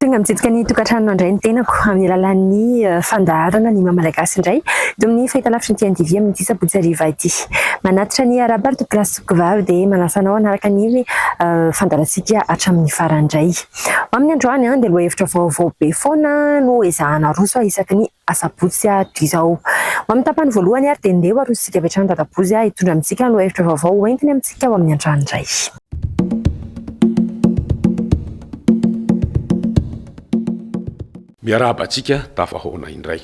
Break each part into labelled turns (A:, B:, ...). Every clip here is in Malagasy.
A: Tonga mitsidika ny tokantrano mandray ny tenako amin'ny alalan'ny fandaharana ny maha Malagasy indray eto amin'ny fahitalavitry ny TNTV amin'ity sabotsy hariva ity. Manatitra ny Arabary Topilasy Soakovavy dia manasa anao hanaraka ny fandaharantsika hatramin'ny farany indray. Ho amin'ny androany dia lohahevitra vaovao be foana no ezahana aroso isaky ny Asabotsy ato izao. Ho amin'ny tapany voalohany ary dia ndeha ho arosintsika avy hatrany Dadabozy hitondra amintsika lohahevitra vaovao ho entiny amintsika ao amin'ny Antrano iray.
B: Miarahaba antsika tafahaona indray.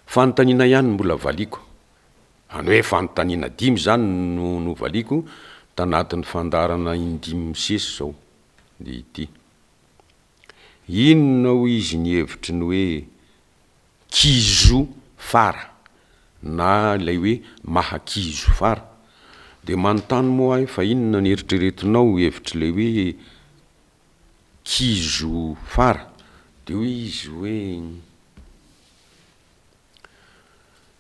B: Fanontaniana ihany no mbola valiako. Any hoe fanontaniana dimy izany no novaliako tanatin'ny fandaharana indimy misesy izao ity. Inona hoy izy ny hevitry ny hoe kizo fara na ilay hoe maha-kizo fara? Dia manontany moa aho fa inona ny eritreretinao ho hevitr'ilay hoe kizo fara? Dia hoy izy hoe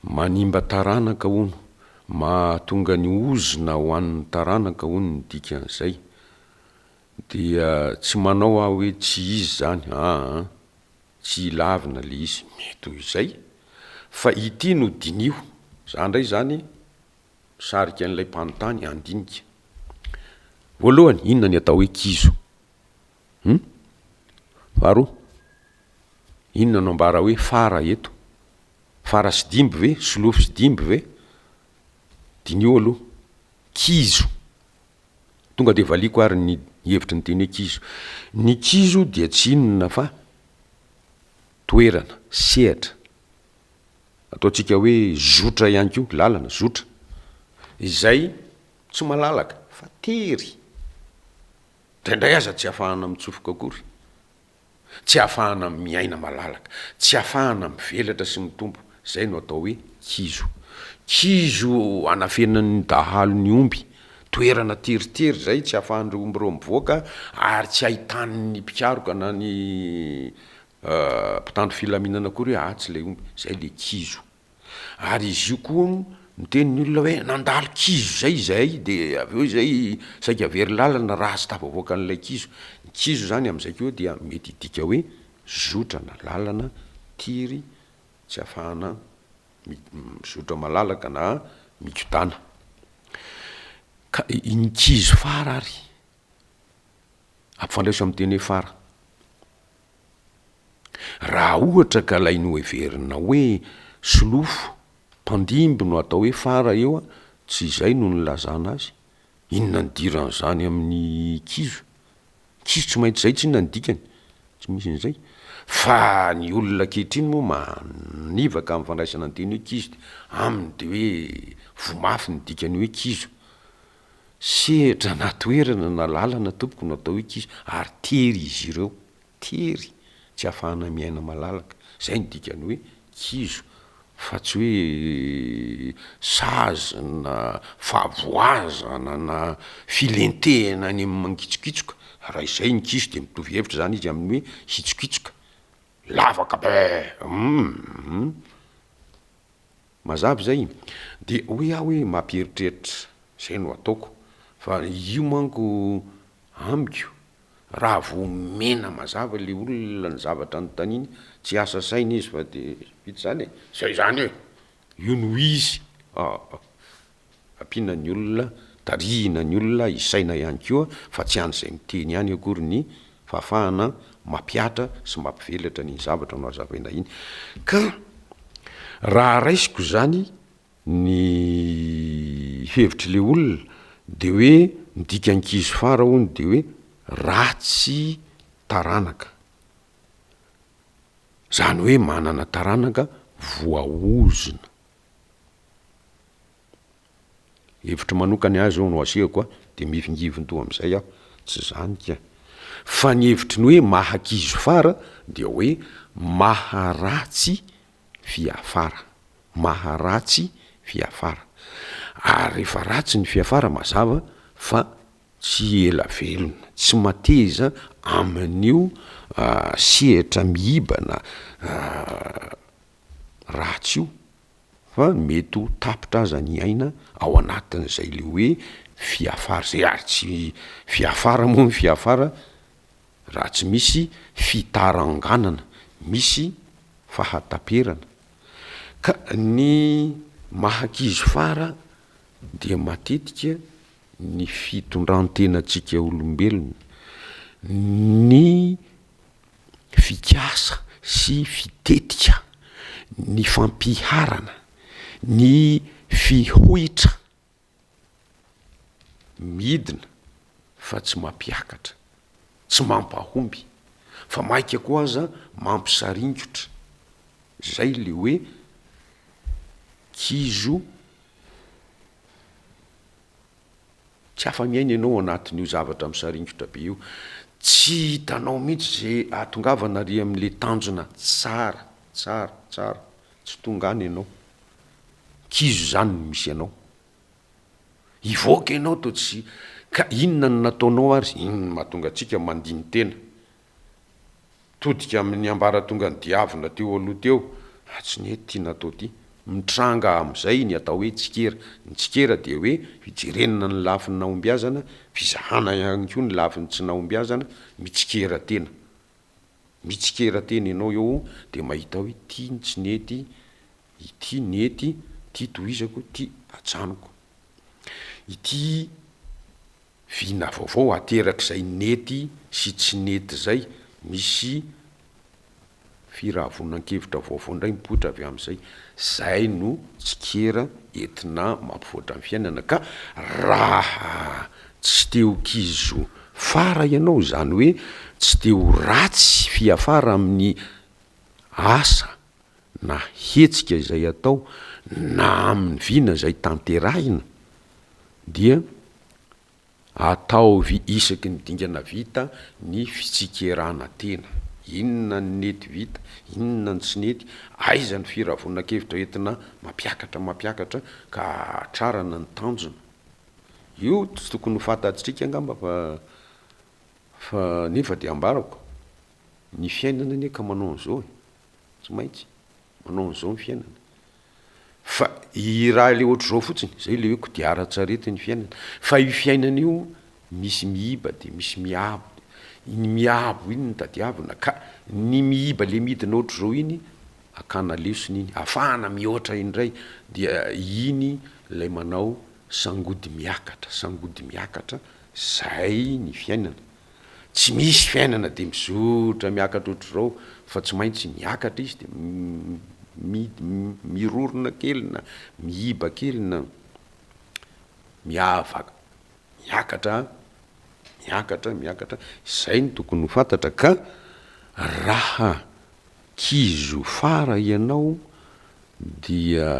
B: manimba taranaka hono, mahatonga ny ozona ho an'ny taranaka hono ny dikan'izay. Dia tsy manao aho hoe tsy izy izany aa, tsy ilavina le izy, mety ho izay, fa ity no diniho, za ndray izany misarika an'ilay mpanontany handinika. Voalohany, inona ny atao hoe kizo? Hum? Faharoa, inona no ambara hoe fara eto? Fara sy dimby ve? Solofo sy dimby ve? Diniho aloha, kizo, Tonga dia valiako ary ny hevitry ny teny hoe kizo. Ny kizo dia tsy inona fa toerana, sehatra, ataontsika hoe zotra ihany koa, lalana, zotra, izay tsy malalaka fa tery, indraindray aza tsy ahafahana mitsofoka akory. Tsy ahafahana miaina malalaka. Tsy ahafahana mivelatra sy mitombo. Izay no atao hoe kizo. Kizo anafenan'ny dahalo ny omby. Toerana teritery izay tsy ahafahan'ireo omby ireo mivoaka ary tsy ahitan'ny mpikaroka na ny mpitandro filaminana akory hoe atsy ilay omby. Izay ilay kizo. Ary izy io koa hono miteny ny olona hoe nandalo kizo izay izahay dia avy eo izay saika very lalana raha tsy tafavoaka an'ilay kizo. Ny kizo izany amin'izay koa dia mety hidika hoe zotra na lalana, tiry, tsy ahafahana mizotra malalaka na mikodàna. Ka ny kizo fara ary ampifandraiso amin'ny teny hoe fara. Raha ohatra ka ilay noheverina hoe solofo, mpandimby no atao hoe fara eo an, tsy izay no nilazana azy? Inona ny diran'izany amin'ny kizo? Kizo tsy maintsy izay tsy inona ny dikany? Tsy misy an'izay. Fa ny olona ankehitriny moa manivaka amin'ny fandraisana ny teny hoe kizo dia aminy dia hoe voa mafy ny dikan'ny hoe kizo. Sedra na toerana na lalana tompoko no atao hoe kizo ary tery izy ireo, tery tsy ahafahana miaina malalaka, izay no dikan'ny hoe kizo fa tsy hoe sazy na fahavoazana na filentehana any amin'ny mangitsokitsoka, raha izay ny kizo dia mitovy hevitra izany izy amin'ny hoe hitsokitsoka, lavaka be! Hum! Mazava izay? Dia hoe aho hoe mampieritreritra, izay no ataoko, fa io manko amiko, raha vao omena mazava ilay olona ny zavatra anontaniany, tsy hiasa saina izy fa dia vita izany e! Izay izany e! Io no izy! Ampiana ny olona, tarihina ny olona, isaina ihany koa fa tsy an'izay miteny ihany akory ny fahafahana mampihatra sy mampivelatra an'iny zavatra nohazavaina iny. Ka raha raisiko izany ny hevitr'ilay olona dia hoe ny dikan-kizo fara hono dia hoe ratsy taranaka. Izany hoe manana taranaka voaozona. Hevitro manokany ahy zao no asehoko a, de mihivingiviny toa amizay aho, tsy zany ka! Fa ny hevitro ny hoe maha kizo fara dia hoe maha ratsy fiafara, maha ratsy fiafara. Ary refa ratsy ny fiafara mazava fa tsy ela velona, tsy mateza amin'io sehatra mihibana ratsy io. Fa mety ho tapitra aza ny aina ao anatin'izay le hoe fiafara zay ary tsy fiafara moa ny fiafara raha tsy misy fitaranganana, misy fahataperana. Ka ny maha-ankizy fara dia matetika ny fitondran-tenantsika olombelona, ny. fikasa sy fitetika, ny fampiharana, ny fihoitra midina fa tsy mampiakatra, tsy mampahomby fa maika koa aza mampisaringotra, zay le hoe kizo. Tsy afa-miaina ianao anatin'io zavatra misaringotra be io. Tsy hitanao mihitsy izay hahatongavana àry amin'ilay tanjona tsara, tsara, tsara. Tsy tonga any ianao. Kizo izany no misy anao. Hivoaka ianao toa tsy, ka inona no nataonao àry? Inona no mahatonga antsika mandini-tena? Todika amin'ny ambaratongan'i Diavina teo aloha teo, ah tsy nety ity natao ity. Mitranga amin'izay ny atao hoe tsikera. Ny tsikera dia hoe fijerenana ny lafiny nahombiazana, fizahana ihany koa ny lafiny tsy nahombiazana, mitsikera tena. Mitsikera tena ianao eo dia mahita hoe ity no tsy nety, ity nety, ity tohizako, ity ajanoko. Ity Vina vaovao aterak'izay nety sy tsy nety izay, misy firahavonan-kevitra vaovao indray mipoitra avy amin'izay. Izay no tsikera entina mampivoatra ny fiainana ka raha tsy te ho kizo fara ianao, izany hoe tsy te ho ratsy fiafara amin'ny asa na hetsika izay atao na amin'ny vina izay tanterahina dia ataovy isaky ny dingana vita ny fitsikerana tena, inona ny nety vita, inona ny tsy nety, aiza ny firavonan-kevitra entina mampiakatra mampiakatra ka hahatrarana ny tanjona. Io tsy tokony ho fantatsika angamba fa fa nefa dia ambarako, ny fiainana anie ka manao an'izao e! Tsy maintsy manao an'izao ny fiainana. Fa i raha ilay ohatr'izao fotsiny, izay ilay hoe kodiaran-tsarety ny fiainana. Fa io fiainana io, misy miiba dia misy miabo. Iny miabo iny no tadiavina. Ka ny miiba ilay midina ohatr'izao iny, akana lesona iny. Afahana mihoatra indray. Dia iny ilay manao sangody miakatra, sangody miakatra, izay ny fiainana. Tsy misy fiainana dia mizotra miakatra ohatr'izao fa tsy maintsy miakatra izy dia mirorona kely na mihiba kely na miava miakatra miakatra miakatra izay no tokony ho fantatra ka raha kizo fara ianao dia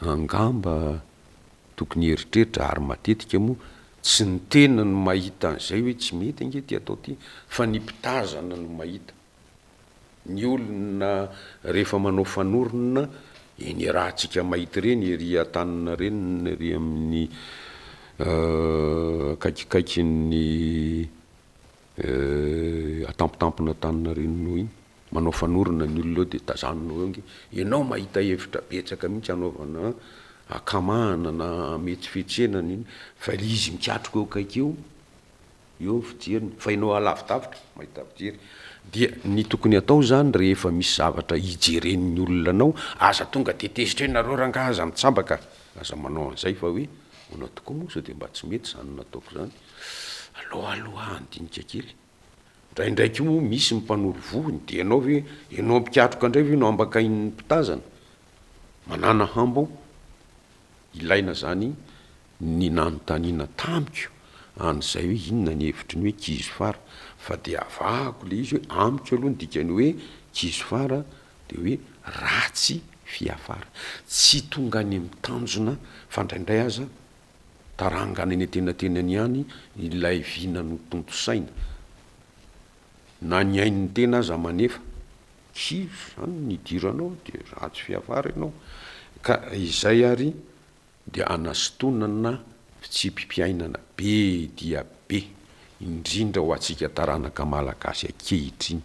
B: Angamba tokony hieritreritra, ary matetika moa tsy ny tena no mahita an'izay hoe tsy mety ange ity atao ity fa ny mpitazana no mahita. Ny olona rehefa manao fanorona eny iarahantsika mahita ireny ery an-tanana ireny na ery amin'ny akaikikaikin'ny Eh, atampitampina tany narenonao iny, manao fanorona ny olona eo dia tazaninao eo ange, ianao mahita hevitra betsaka mihitsy hanaovana hakamahana na hametsifetsena ny iny fa le izy mikatroka eo akaiky eo, eo ny fijeriny fa ianao alavidavitra mahita fijery, dia ny tokony atao zany rehefa misy zavatra hijeren'ny olona anao, aza tonga dia tezitra eo nareo rangahy aza mitsambaka, aza manao an'izay fa hoe ahoana tokoa moa sao dia mba tsy mety zany nataoko zany, Alohaaloha handinika kely. Ndraindray koa moa misy ny mpanoro vohony dia ianao ve, ianao mpikatroka indray ve no ambakain'ny mpitazana? Manàna hambo aho. Ilaina izany ny nanontaniana tamiko an'izay hoe inona ny hevitry ny hoe kizo fara fa dia avahako ilay izy hoe amiko aloha ny dikan'ny hoe kizo fara dia hoe ratsy fiafara. Tsy tonga any amin'ny tanjona fa indraindray aza tarangana eny antenatenany ihany ilay vina notontosaina. Na ny ain'ny tena aza manefa. Kivy izany ny hidiranao dia ratsy fiavara ianao. Ka izay ary dia hanastonana fitsipi-piainana be dia be, indrindra ho antsika taranaka malagasy ankehitriny.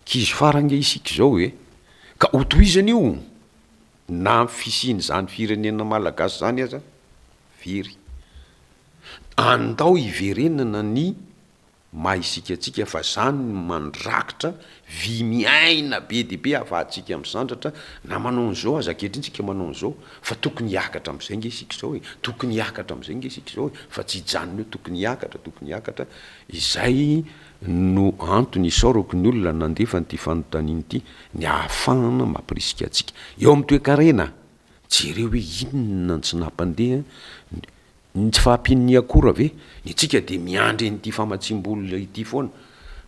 B: Kizo fara ange isika izao e! Ka ho tohizana io! Na amin'ny fisian'izany firenena malagasy izany aza very, andao hiverenana ny maha isika antsika fa izany no mandrakitra vy miaina be dia be ahafahantsika misandratra na manao an'izao aza ankehitriny isika manao an'izao fa tokony hiakatra amin'izay nge isika izao e, tokony hiakatra amin'izay nge isika izao e, fa tsy hijanona eo tokony hiakatra, tokony hiakatra, izay. no antony isaorako ny olona nandefa an'ity fanontaniana ity, ny ahafahana mampirisika antsika eo amin'ny toekarena. Jereo hoe inona no tsy nampandeha ny tsy fahampian'ny akora ve? Isika dia miandry an'ity famatsiam-bola ity foana,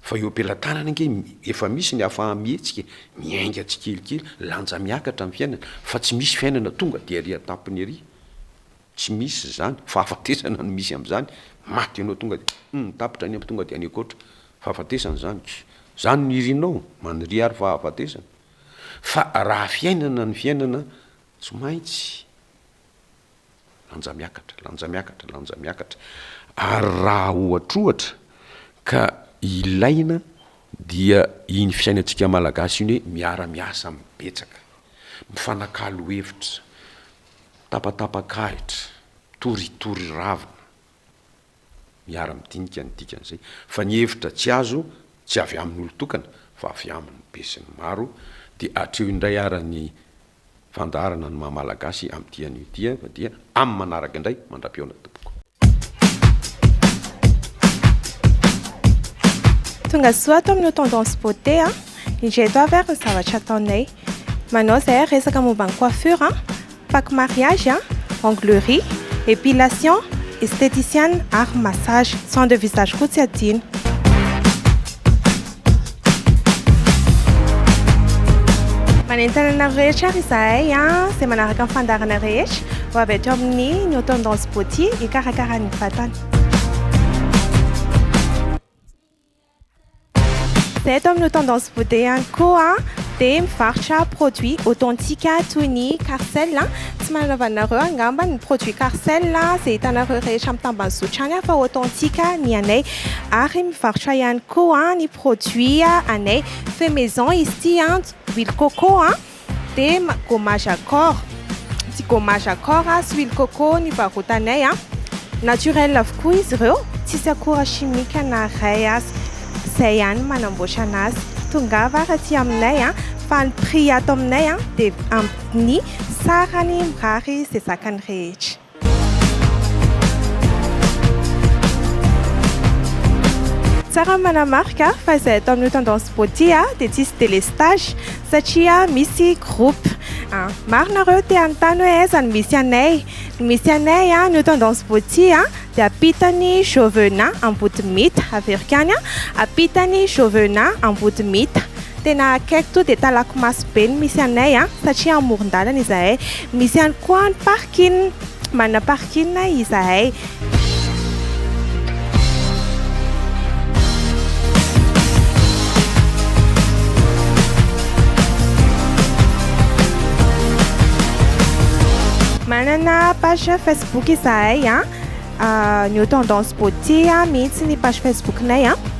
B: fa eo am-pelatanana ange efa misy ny ahafaha-mihetsika e! Miainga tsikelikely, lanja miakatra ny fiainana, fa tsy misy fiainana tonga dia ery an-tampony ery. Tsy misy izany, fahafatesana no misy amin'izany, maty ianao tonga dia humm tapitra any am tonga dia any ankoatra, fahafatesana izany, izany no irinao, maniria ary fahafatesana, fa raha fiainana ny fiainana tsy maintsy lanja miakatra, lanja miakatra, lanja miakatra, ary raha ohatrohatra ka ilaina dia iny fiainantsika malagasy iny hoe miara miasa mibetsaka, mifanakalo hevitra, Tapatapak'ahitra, toritory ravina. Miara-midinika ny dikan'izay fa ny hevitra tsy azo tsy avy amin'olon-tokana fa avy amin'ny besinimaro dia hatreo indray ara ny fandaharana ny maha-malagasy amin'ny dia an'io dia fa dia amin'ny manaraka indray mandra-pihaona.
C: Tonga soa ato amin'ny tendance beauté a. Indray eto avy ary ny zavatra ataonay. Manao izay ary resaka momba ny coiffure, pack mariage, onglerie, épilation, esthéticienne ary massage. Soins de visage koa tsy adino. Manentana anareo rehetra ary izahay izay manaraka ny fandarana rehetra ho avy ato amin'ny New Tendance Beauty hikarakara ny vatana. Izay ato amin'ny New Tendance Beauty ihany koa dia mivarotra produits authentique toy ny Carcel. Tsy manana anareo angamba ny produits Carcel izay hitanareo rehetra amin'ny tambany zotra any fa authentique ny anay. Ary mivarotra ihany koa ny produit anay fait maison izy ity an, huile coco an, dia gommage à corps, ity gommage à corps sy huile coco ny varotanay an, naturel avokoa izy ireo, tsisy akora chimique na iray aza, izay ihany no manamboatra an'azy, tongava ary aty aminay an, fa ny prix ato aminay an dia amin'ny sarany mirary izay zakany rehetra. Tsara ny manamarika fa izahay tao amin'io tendance beauty dia tsisy délestage satria misy groupe. Maro nareo te hanontany hoe aiza no misy anay. Ny misy anay an'io tendance beauty dia ampitan'i Jovena Ambodimita. Averiko ihany, ampitan'i Jovena Ambodimita. Tena akaiky tonga dia Talakomaso be no misy anay satria amoron-dalana izahay. Misy ihany koa ny parc. Kin, Manana parking izahay. Manana page Facebook izahay an, ny Tendance Beauté mihitsy ny page Facebook-nay an.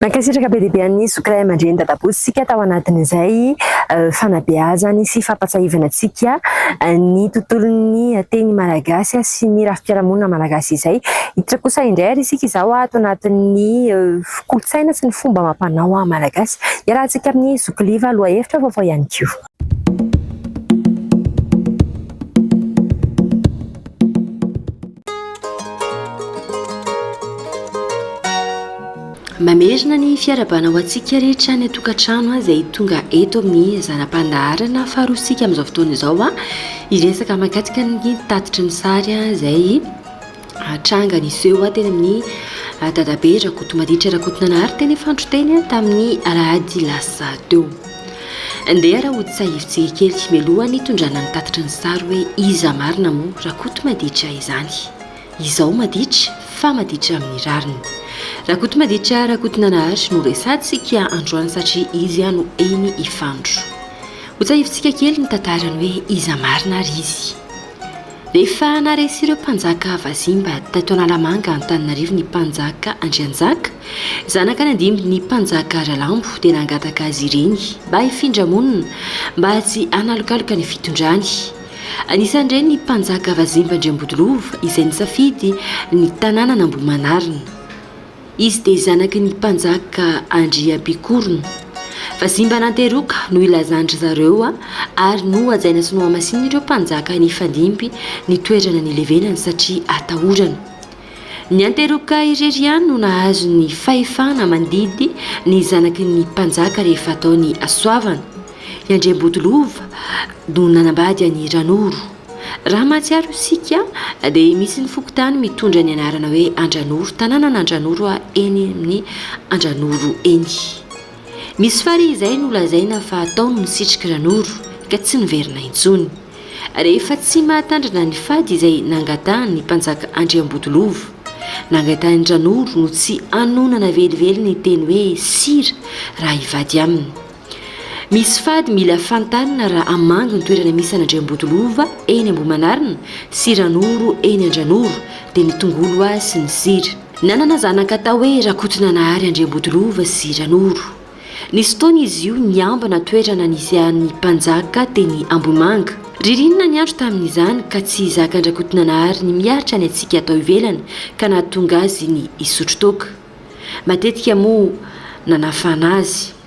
A: Nankasitraka be dia be an'i Zoky ray aman-dreny dadabola isika tao anatin'izay fanabeazany sy fampatsahivana antsika ny tontolon'ny teny malagasy sy ny rafi-piarahamonina malagasy izay. Hiditra kosa indray ary isika izao ato anatin'ny kolontsaina sy ny fomba amam-panao malagasy. Iarahantsika amin'i Zoky Liva lohahevitra vaovao ihany koa.
D: Mamerina ny fiarahabana ho antsika rehetra any an-tokantrano izay tonga eto amin'ny zana-pandaharana faharoantsika amin'izao fotoana izao a hiresaka mahakasika ny tatitry ny sary izay hatranga niseho teny amin'ny Dadabe Rakotomaditra Rakotonanahary teny Fandroteny tamin'ny alahady lasa teo. Ndeha rahotsahivitsy kely mialoha ny hitondrana ny tatitry ny sary hoe iza marina moa Rakotomaditra izany. Izao maditra fa maditra amin'ny rariny. Rakotomaditra Rakotonanahary no resatsika androany satria izy no eny Ifandro. Hotsahivitsika kely ny tantarany hoe iza marina ary izy. Efa naharesy ireo mpanjaka vazimba tato Analamanga Antananarivo ny mpanjaka Andrianjaka, zanaka any an-dimbin'ny mpanjaka Ralambo dia nangataka azy ireny mba hifindra monina mba tsy hanalokaloka ny fitondrany. Anisan'ireny ny mpanjaka vazimba Andriambodilova izay nisafidy ny tanànan'Ambohimanarina. Izy dia zanaky ny mpanjaka Andriampikorona. Vazimba ananteroka no ilazan-dry zareo ary nohajaina sy nohamasinin'ireo mpanjaka nifandimby ny toerana nilevenany satria atahorana. Ny anteroka irery ihany no nahazo ny fahefana mandidy ny zanaky ny mpanjaka rehefa atao ny hasoavana. I Andriambotolova no nanambady an'i Ranoro. Raha mahatsiaro isika dia misy ny fokontany mitondra ny anarana hoe Andranoro, tanànan'Andranoro eny amin'ny Andranoro eny. Misy farihy izay nolazaina fa tao no nisitriky Ranoro ka tsy niverina intsony. Rehefa tsy mahatandrina ny fady izay nangatahan'ny mpanjaka Andriambodolovo, nangatahin'i Ranoro no tsy hanonana velively ny teny hoe Sira raha hivady aminy. Misy fady mila fantanina raha hamangy ny toerana misy an'Andriambotolova eny Ambohimanarina sy Ranoro eny Andranoro dia ny tongolo hoa sy ny sira. Nanana zanaka atao hoe Rakotonanahary Andriambotolova sy Ranoro. Nisy fotoana izy io niambina toerana nisehan'ny mpanjaka teny Ambohimanga. Ririnina ny andro tamin'izany ka tsy zakan-dRakotonanahary ny miaritra ny hatsiaka tao ivelany ka nahatonga azy ny hisotro toaka. Matetika moa nanafana azy.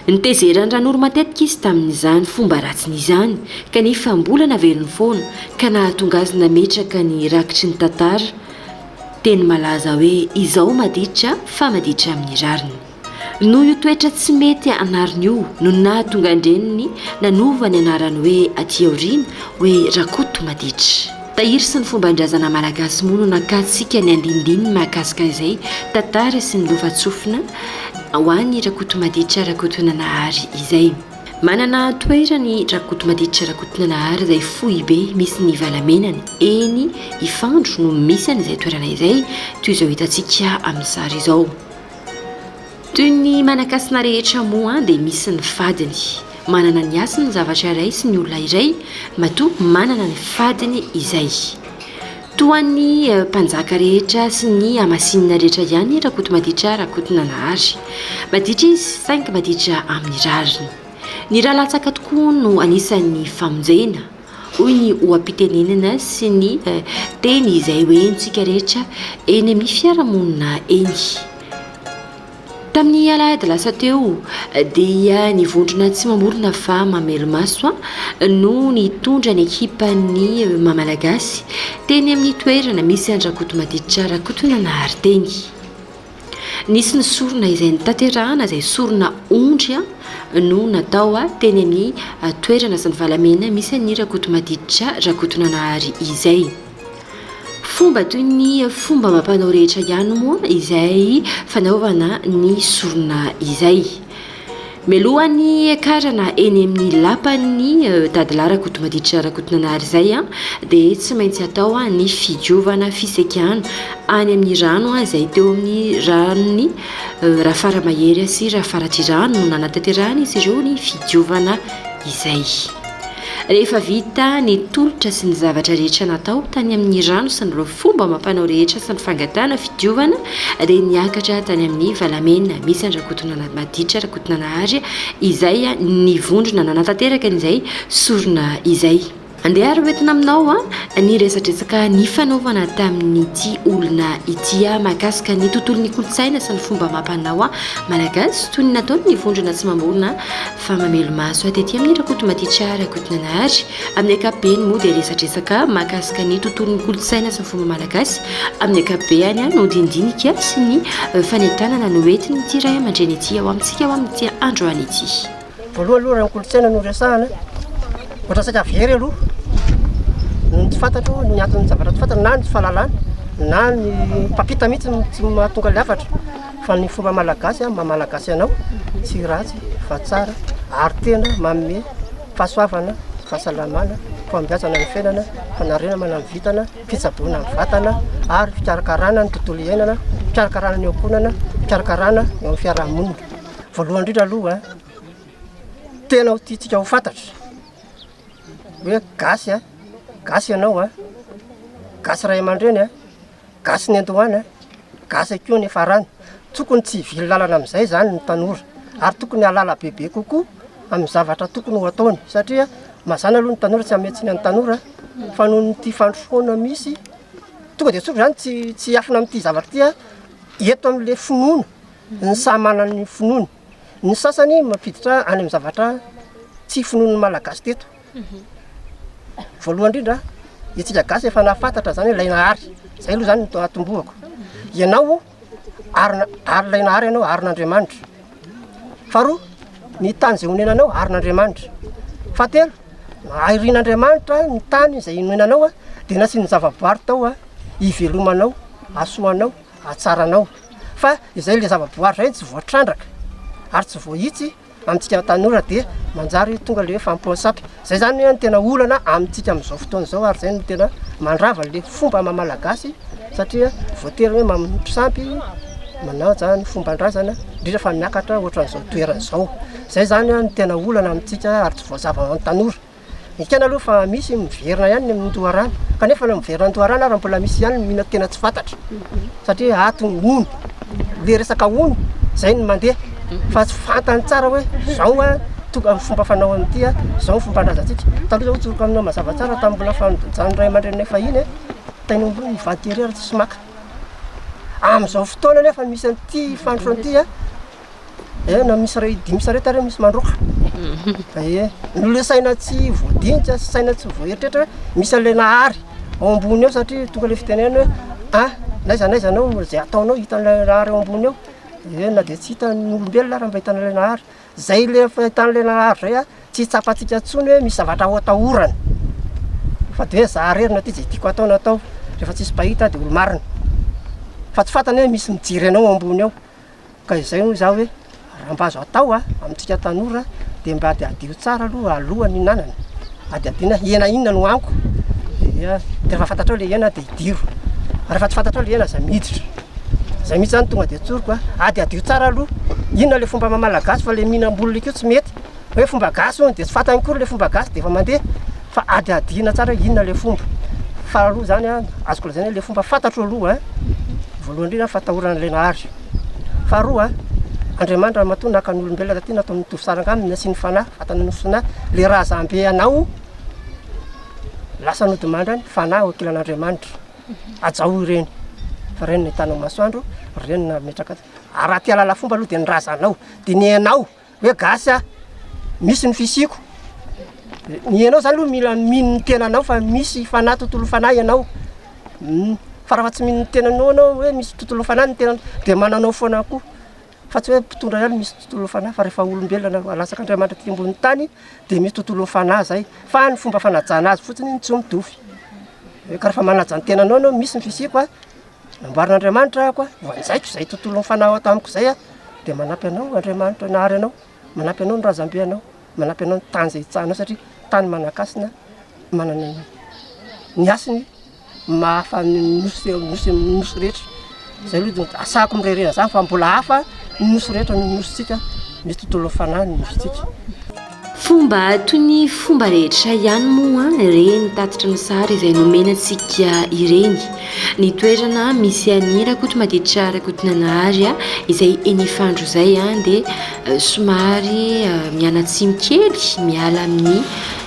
D: Nitezeran'i Ranoro matetika izy tamin'izany fomba ratsiny izany, kanefa mbola naveriny foana, ka nahatonga azy nametraka ny rakitry ny tantara teny malaza hoe Izaho maditra fa maditra amin'ny rariny. Noho io toetra tsy mety anariny io no nahatonga an-dreniny nanova ny anarany hoe aty aoriana hoe Rakoto maditra. Tahiry sy ny fomban-drazana malagasy moa no nakatsika ny andinindininy mahakasika an'izay tantara sy ny lovantsofina ho an'i Rakotomaditra Rakotonanahary izay. Manana toerana i Rakotomaditra Rakotonanahary izay foibe misy ny valamenany. Eny Ifandro no misy an'izay toerana izay, toy izao hitantsika amin'ny sary izao. Toy ny manan-kasina rehetra moa dia misy ny fadiny. Manana ny hasiny ny zavatra iray sy ny olona iray, matoa manana ny fadiny izay. Toa ny mpanjaka rehetra sy ny hamasinina rehetra ihany i Rakotomaditra Rakotonanahary. Maditra izy saingy maditra amin'ny rariny. Ny ra latsaka tokoa no anisan'ny famonjena. Hoy ny oha-pitenenana sy ny teny izay ho henontsika rehetra eny amin'ny fiarahamonina eny. Tamin'ny alahady lasa teo dia ny vondrona tsy mamorona fa mamelomaso no nitondra ny ekipan'ny Mamalagasy teny amin'ny toerana misy an-dRakotomatitrarakotonanahary teny. Nisy ny sorona izay notanterahana izay sorona ondry no natao teny amin'ny toerana sy ny valamena misy an'i Rakotomadiditra Rakotonanahary izay. Fomba toy ny fomba amam-panao rehetra ihany moa izay fanaovana ny sorona izay. Mialoha ny hiakarana eny amin'ny lapan'ny Dadilahy Rakotomaditra Rakotonanary izay dia tsy maintsy atao ny fidiovana fisekana any amin'ny rano izay teo amin'ny ranon'ny Rafaramahery sy Rafaratrihirano no nanataterahan'izy ireo ny fidiovana izay. Rehefa vita ny tolotra sy ny zavatra rehetra natao tany amin'ny rano sy ny fomba amam-panao rehetra sy ny fangatahana fidiovana dia niakatra tany amin'ny Valamena, misy an-dRakotonana Maditra Rakotonanahary izay ny vondrona nanatanteraka an'izay sorona izay. Andeha ary ho entina aminao ny resadresaka nifanaovana tamin'ity olona ity mahakasika ny tontolon'ny kolontsaina sy ny fomba amam-panao malagasy toy ny nataon'ny vondrona tsy mamorona fa mamelo-maso tetỳ amin'ny Rakotomaditra Rakotonanahary Amin'ny ankapobeny moa dia resadresaka mahakasika ny tontolon'ny kolontsaina sy ny fomba malagasy amin'ny ankapobeany no dindinika sy ny fanentanana noentin'ity ray aman-dreny ity ao amintsika ao amin'ity androany ity. Voalohany aloha raha ny
E: kolontsaina no resahana ohatra saika very aloha ny tsy fantatro ny anton'ny zavatra tsy fantatro na ny tsy fahalalana na ny mpampita mihitsy no tsy mahatonga ny hafatra fa ny fomba malagasy amin'ny maha malagasy anao tsy ratsy fa tsara ary tena manome fahasoavana, fahasalamana, fahombiazana ny fiainana, fanarenamana ny vintana, fitsaboana ny vatana ary fikarakarana ny tontolo iainana, fikarakarana ny ankohonana, fikarakarana ny amin'ny fiarahamonina. Voalohany indrindra aloha, tena ho tiantsika ho fantatra hoe gasy gasy ianao, gasy ray aman-dreny, Gasy ny andohany a! Gasy koa ny farany. Tokony tsy hivily lalana amin'izay izany ny tanora ary tokony hahalala bebe kokoa amin'ny zavatra tokony ho ataony satria mazàna aloha ny tanora, tsy hanome tsiny ny tanora fa noho ity fandrosoana misy tonga dia tsotra izany tsy tsy hiafina amin'ity zavatra ity aho, eto amin'ilay finoana, ny samy manana ny finoany. Ny sasany mampiditra any amin'ny zavatra tsy finoan'ny Malagasy teto. Voalohany indrindra, isika gasy efa nahafantatra izany hoe ilay Nahary. Izay aloha izany no atombohako. Ianao, arina, ary ilay Nahary ianao, arin'Andriamanitra. Faharoa, ny tany izay onenanao, arin'Andriamanitra. Fahatelo, airin'Andriamanitra ny tany izay inoenanao, dia nasiany zavaboary tao hivelomanao, hahasoanao, hahatsaranao. Fa izay ilay zavaboary izay no tsy voatrandraka ary tsy voahitsy. Amintsika tanora dia manjary tonga ilay hoe fahampoan-sampy. Izay izany hoe no tena olana amintsika amin'izao fotoana izao ary izay no tena mandrava ilay fomba maha-malagasy satria voatery hoe manompo sampy, manaja ny fomban-drazana, indrindra fa miakatra ohatran'izao toerana izao. Izay izany no tena olana amintsika ary tsy voazava ho an'ny tanora. Ekena aloha fa misy ny miverina ihany ny amin'ny loharano, kanefa ilay miverina amin'ny loharano ary mbola misy ihany ny mino tena tsy fantatra, satria ato ny ony, ilay resaka ony izay no mandeha fa tsy fantany tsara hoe izao an tonga ny fomba fanao an'ity an, izao ny fomban-drazantsika. Taloha izao hotsoriko aminao mazava tsara tamin'ny mbola fanajana ny ray aman-dreninay fahiny an, tena hoe mivady tery ary tsisy maka. Amin'izao fotoana anefa misy an'ity fandrosoana ity an, Eh, na misy ray dimy sarety ary misy mandroaka. Eh, nole saina tsy voadinika, saina tsy voaeritreritra hoe misy an'ilay nahary ao ambony eo satria tonga ilay fitenenana hoe ah n'aiza n'aiza anao izay ataonao hitan'ilay nahary ao ambony eo. Eh, na dia tsy hitan'ny olombelona ary mba hitan'ilay nahary. Izay ilay fahitan'ilay nahary izay ah tsy tsapantsika intsony hoe misy zavatra ho atahorana. Fa dia hoe za irery no aty izay tiako atao no atao, rehefa tsisy mpahita dia olo-marina. Fa tsy fantany hoe misy mijery anao ao ambony ao. Ka izay hoy za hoe raha mba azo atao amintsika tanora dia mba adihadio tsara aloha alohan'ny hihinanana, adihadiana hena inona no haniko dia rehefa fantatrao ilay hena dia hidiro, rehefa tsy fantatrao ilay hena aza miditra, izay mihitsy zany tonga dia tsoriko a, adihadio tsara aloha inona ilay fomba maha-malagasy fa ilay mihinam-bolona io koa tsy mety hoe fomba gasy hono dia tsy fantany akory ilay fomba gasy dia efa mandeha. Fa hadihadiana tsara hoe inona ilay fomba. Faharoa izany, azoko lazaina hoe ilay fomba fantatro aloha, voalohany indrindra fatahoran' ilay Nahary. Faharoa, Andriamanitra matoa naka ny olombelona taty nataony mitovy saranga aminy, nasiany fanahy, vatana nofosaina, ilay razambe anao lasa nodimandry any, fanahy ao ankilan' Andriamanitra. Hajao ireny fa ireny no hitanao masoandro, ireny no nametraka azy. Ary raha te hahalala fomba aloha dia ny razanao, dia ny anao hoe gasy aho, misy ny fisiako, ny ianao zany aloha mila mino ny tenanao fa misy fanahy tontolo fanahy ianao, fa raha tsy mino ny tenanao ianao hoe misy tontolo fanahy ny tenanao dia manao anao foana koa fa tsy hoe mpitondra ihany misy tontolo fanahy fa rehefa olombelona na latsaka Andriamanitra aty ambony tany dia misy tontolo fanahy zay fa ny fomba fanajana azy fotsiny no tsy mitovy, ka rehefa manaja ny tenanao ianao misy ny fisiako a, nambaran'Andriamanitra ahako hoe voanjaiko izay tontolo nifanao tamiko izay aho dia manampy anao Andriamanitra nahary anao, manampy anao ny razambe anao, manampy anao ny tany izay hitsahanao satria tany manan-kasina manana ny hasiny mahafa ny nosy nosy nosy rehetra izay aloha dia asako mirerena izany fa mbola hafa ny nosy rehetra ny nosintsika misy tontolo nifanan'ny nosintsika. Fomba
D: toy ny fomba rehetra ihany moa ireny tatitry ny sary izay nomena antsika ireny. Ny toerana misy an'i Rakotomaditra Rakotonanahary izay eny Ifandro izay dia somary mianatsimo kely miala amin'ny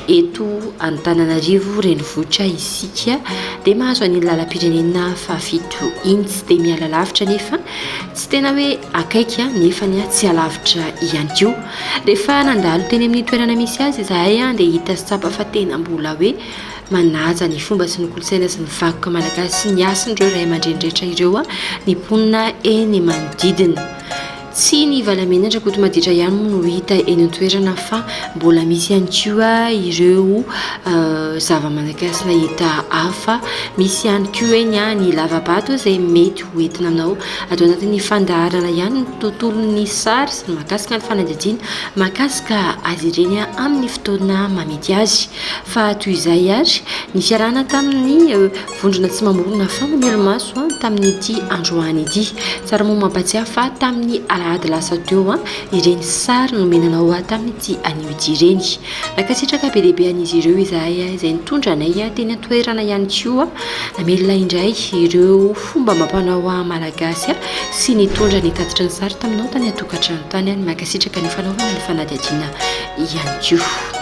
D: eto Antananarivo renivohitra isika dia mahazo an'iny lalam-pirenena fahafito iny, tsy dia miala lavitra anefa. Tsy tena hoe akaiky nefa tsy alavitra ihany koa. Rehefa nandalo teny amin'ny toerana misy azy izahay dia hita sy tsapa fa tena mbola hoe manaja ny fomba sy ny kolontsaina sy ny vakoka malagasy sy ny hasin'ireo ray aman-dreny rehetra ireo ny mponina eny manodidina. Tsy ny valamenatra Kotomaditra ihany moa no hita eny an-toerana fa mbola misy ihany koa ireo zava-manakasina hita hafa. Misy ihany koa eny ny lavabato izay mety. ho entina anao ato anatin'ny fandaharana ihany ny tontolon'ny sary sy ny mahakasika ny fanadihadiana mahakasika azy ireny amin'ny fotoana mamety azy fa toy izay ary ny fiarahana tamin'ny eh, vondrona tsy mamorona fanamelo-maso ah, tamin'ity androany ity tsara moa mampatsiahy fa tamin'ny alahady lasa teo an ah, ireny sary nomenanao ah, tamin'ity anio ity ireny Nankasitraka be dia be an'izy ireo izahay izay nitondra anay teny an-toerana ihany koa. Namelona indray ireo fomba amam-panao malagasy sy nitondra ny tatitry ny sary taminao tany an-tokantrano tany. Nankasitraka ny fanaovana ny fanadihadiana ihany koa.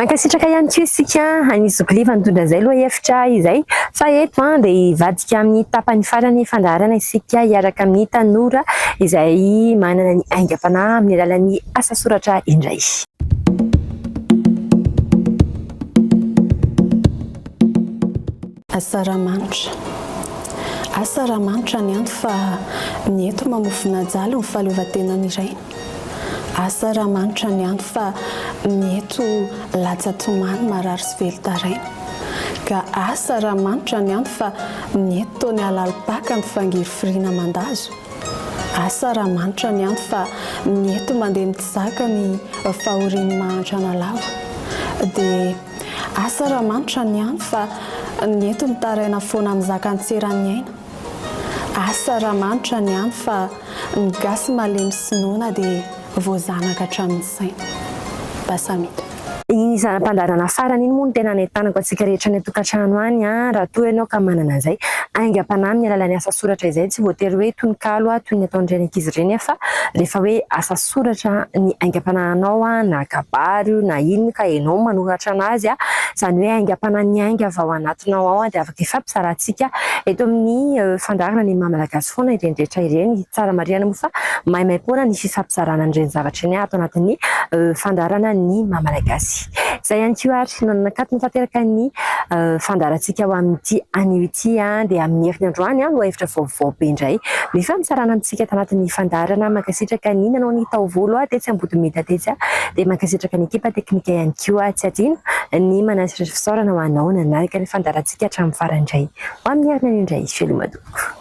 A: Mankasitraka ihany koa isika any Zokilefa nitondra izay lohahevitra izay fa eto dia hivadika amin'ny tapany farany fandaharana isika hiaraka amin'ny tanora izay manana ny aingam-panahy amin'ny alalan'ny asa soratra indray.
F: Asa raha manitra Asa raha manitra ny anto fa ny eto mamofona ajaly ny fahaleovantenany iray Asa raha manitra ny anto fa ny eto latsa-tomany marary sy velon-taraina Ka asa raha manitra ny anto fa ny eto toa ny halalim-paka mifangirifiriana mandazo Asa raha manitra ny anto fa ny eto mandeha mitsaka ny fahorian'ny mahantra analava Dia Asa raha manitra ny any fa ny eto mitaraina foana mizaka an-tseran'ny aina. Asa raha manitra ny any fa ny gasy malemy sy noana dia voazanaka hatramin'ny saina. Basamita. Iny
A: zana-pandaharana farany iny moa no tena anentanako antsika rehetra any an-tokantrano any an, raha toa ianao ka manana an'izay aingam-panahy amin'ny alalan'ny asa soratra izay, tsy voatery hoe tononkalo toy ny ataon'ireny ankizy ireny an, fa rehefa hoe asa soratra ny aingam-panahinao na kabary io na inona ka ianao manoratra an'azy, izany hoe aingam-panahy miainga avy ao anatinao ao dia afaka hifampizarantsika eto amin'ny fandaharana ny maha malagasy foana ireny rehetra ireny. Tsara marihina moa fa maimaimpoana ny fifampizarana an'ireny zavatra ireny ato anatin'ny fandaharana ny maha malagasy. Izay ihany koa ary no nanakatona tanteraka ny fandaharantsika ho amin'ity anio ity dia amin'ny herin'ny androany lohahevitra vaovao be indray ny fampitsarana antsika tao anatin'ny fandaharana. Mankasitraka ny nanao ny taovolo tetsy Ambodimeda tetsy dia mankasitraka ny ekipa teknika ihany koa. Tsy adino ny manasitratra fisaorana ho anao nanaraka ny fandaharantsika hatramin'ny farany indray ho amin'ny herinandro indray Felomadoko.